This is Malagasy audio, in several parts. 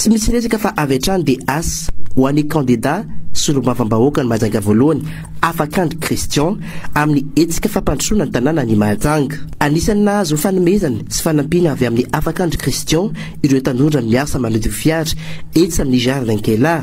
Tsy misy resaka fa avy hatrany dia asa ho an'ny kandida solombavambahoaka ny Mahajanga voalohany Afakandry Christian amin'ny hetsika fampandrosoana ny tanàna ny Mahajanga. Anisan'ny nahazo fanomezana sy fanampiana avy amin'ny Afakandry Christian ireo tanora miasa manodio fiara etsy amin'ny Jardin Kela.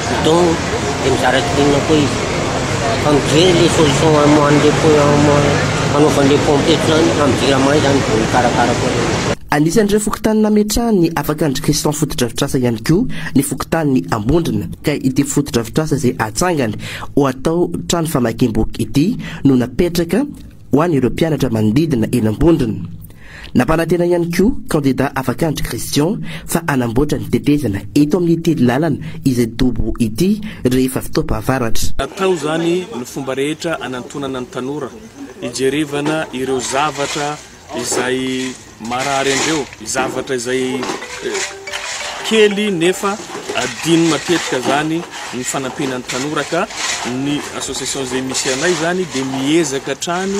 Bidon dia mizara kirinina koa izy fa mijery le solution amoahan'le anaovan'le pompette zany fa mijery amay zany vao mikarakara koa le izy. Anisan'ireo fokontany nametrahany afaka an-dry Christian fotodrafitrasa ihany koa ny fokontanin'i Ambondrona ka ity fotodrafitrasa izay hatsangany ho atao trano famakiam-boky ity no napetraka ho an'ireo mpianatra manodidina eny Ambondrona. Nampanantena ihany koa kandida Afakandry Christian fa hanamboatra ny tetezana eto amin'ity lalana izay dobo ity rehefa fotoam-pahavaratra. Natao izany ny fomba rehetra hanantonana ny tanora hijerevana ireo zavatra izay. Marary andreo zavatra izay kely nefa adino matetika zany ny fanampiana ny tanora ka ny association izay misy anay zany dia miezaka hatrany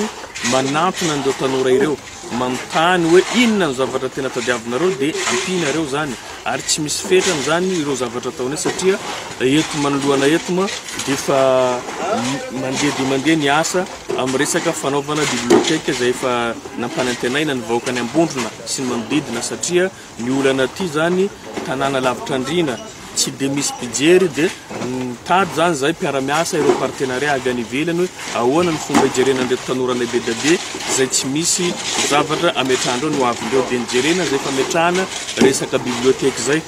manampina an'ireo tanora ireo manontany hoe inona ny zavatra tena tadiavinareo dia ampianareo zany ary tsy misy fetrany zany ireo zavatra ataonay satria eto manoloana eto ma dia efa mandeha dia mandeha ny asa Amin'ny resaka fanaovana biblioteka izay efa nampanantenaina ny vahoaka any Ambondrona sy ny manodidina satria ny olana aty izany tanàna lavitra andriana, tsy dia misy mpijery dia mitady izany izahay mpiara-miasa ireo partenariat avy any ivelany hoe ahoana ny fomba hijerena an'ireto tanoranay be dia be izay tsy misy zavatra ametrahandreo ny ho avindreo dia nijerena izay fametrahana resaka biblioteka izay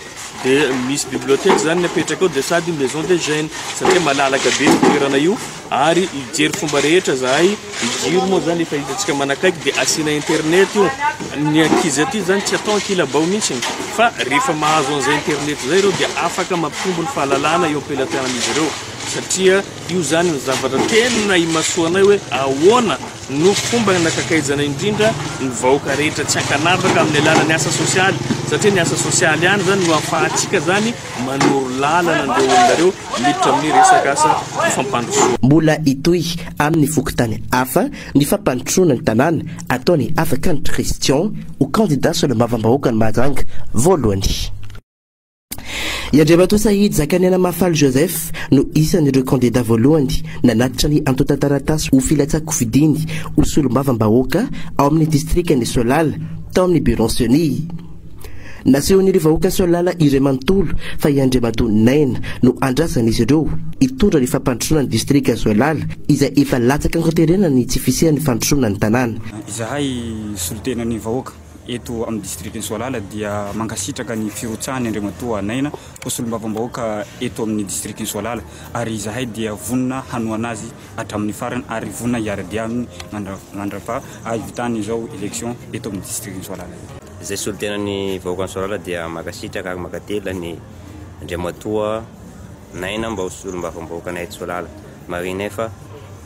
dia misy biblioteka izany ny apetraka ao dia sady maison des jeunes satria malalaka be ny toerana io Ary hijery fomba rehetra zahay, ny jiro moa zany efa hitantsika manakaiky dia asiana internet io, ny ankizy aty zany tsy atao ankilabao mintsiny fa rehefa mahazo an'izay internet zay ireo dia afaka mampitombo ny fahalalana eo am-pelatanan'izy ireo satria io zany ny zavatra tena imasoanay hoe ahoana no fomba nakakaizana indrindra ny vahoaka rehetra tsy ankanavaka amin'ny alalan'ny asa sosialy satria ny asa sosialy ihany zany no afahantsika zany manoro lalana an'ireo olona ireo miditra amin'ny resaka asa fampandrosoana. Mbola hitohy amin'ny fokontany hafa ny fampandrosoana ny tanàna ataon'i Avakany Christian ho kandida solombavambahoakan'i Mahajanga voalohany. I Andriamatoa Sahidy Zakaniana Mahafaly Joseph no isan'ireo kandida voalohany nanatitra ny antontan-taratasy ho filatsahan-kofidiny ho solombavambahoaka ao amin'ny distrikan'i Soalala tao amin'ny Bureau-n'ny Ceni. Nasehon'ireo vahoaka Soalala iray manontolo fa i Andriamatoa Naina no andrasan'izy ireo hitondra ny fampandrosoana ny distrika Soalala izay efa latsaka an-konterena ny tsy fisian'ny fandrosoana ny tanàna. Izahay solontenan'ny vahoaka eto amin'ny distrikan'i Soalala dia mankasitraka ny firotsahan'i Andriamatoa Naina ho solombavambahoaka eto amin'ny distrikan'i Soalala ary izahay dia vonona hanohana azy hatramin'ny farany ary vonona hiara-dia aminy mandrava hahivitana izao election eto amin'ny distrikan'i Soarala. Izay solontenan'ny vahoakan'i Soarala dia mankasitraka ary mankatelina an'i Andriamatoa Naina mba ho solombavambahoakanay eto Soalala. Marihina efa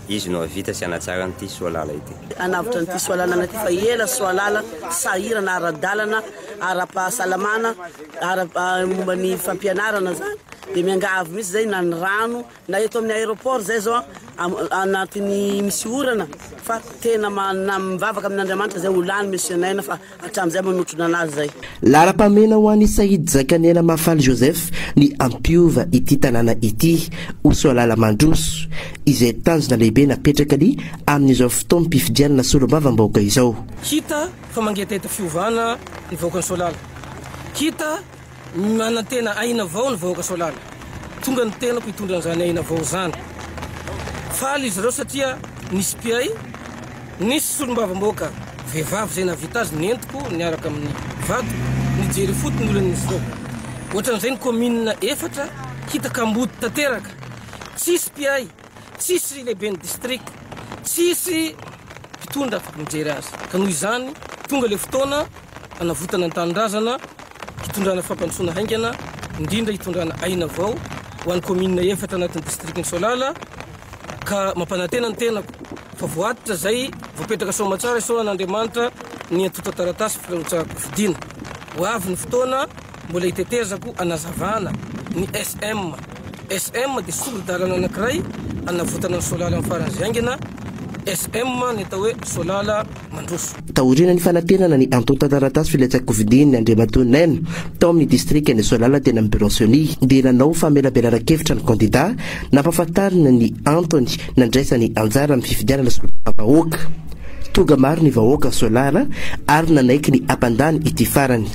izy no hahavita sy hanatsara an'ity Soalala ity. Hanavotra an'ity Soalala an'ity fa ela Soalala sahirana ara-dalana, ara-pahasalamana, ara-momba ny fampianarana izany dia miangavy mihitsy izay na ny rano, Na eto amin'ny aéroport izay zao anatin'ny misy orana fa tena mivavaka amin'Andriamanitra izay ho lany Monsieur Naina fa hatramin'izay manotrona anazy izay. Laharam-pahamehana ho an'i Said Zakaniana Mafaly Joseph ny hampiova ity tanàna ity ho Soalala mandroso, izay tanjona lehibe napetraka ny amin'izao fotoam-pifidianana solombavambahoaka izao. Hita fa mangetaheta fiovana ny vahoakan'i Soalala. Hita Manantena aina vao ny vahoaka Soalala. Tonga ny tenako hitondra an'izany aina vao izany. Faly izy ireo satria nisy mpihay, nisy solombavambahoaka vehivavy izay nahavita azy nentiko niaraka amin'ny vato nijery ifoto ny olana izy ireo. Ohatran'izay ny kaominina efatra hita kamboty tanteraka. Tsisy mpihay. tsisy lehiben'ny distrika, tsisy mpitondra mijery azy. Ka noho izany, tonga ilay fotoana hanavotana ny tanindrazana, hitondrana fampandrosoana haingana, indrindra hitondrana aina vao ho an'ny kaominina efatra anatin'ny distrikan'i Soalala, ka mampanantena ny tenako fa voatitra izay voapetraka soamatsara isaorana Andriamanitra ny antontan-taratasy firotsaham-pifidiana. Ho avy ny fotoana. Mbola itetezako anazavana ny SM. SM dia sori-dalana anankiray anavotana ny solala amin'ny faran'izay haingana. SM ny atao hoe solala mandroso. Taorian'ny fanantenana ny antontan-taratasy filatsakofidin'ny Andriamatoa Neny tao amin'ny distrikan'i Soalala teny amin'ny Birao Ceni dia nanao famelabelaran-kevitra ny kandida nampahafantarina ny antony Nandraisany anjara amin'ny fifidianana solombavam-bahoaka tonga maro ny vahoaka Solar ary nanaiky ny hampandany ity farany.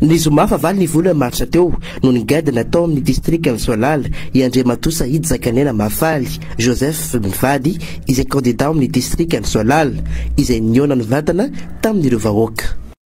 Ny zoma fahavalo ny volana martsa teo, Noho ny gadona tao amin'ny distrikan'i Soalala i Andriamatoa Sahidy Zakanena Mahafaly Joseph mivady izay kandidà ao amin'ny distrikan'i Soalala, izay nihaona nivantana tamin'ireo vahoaka.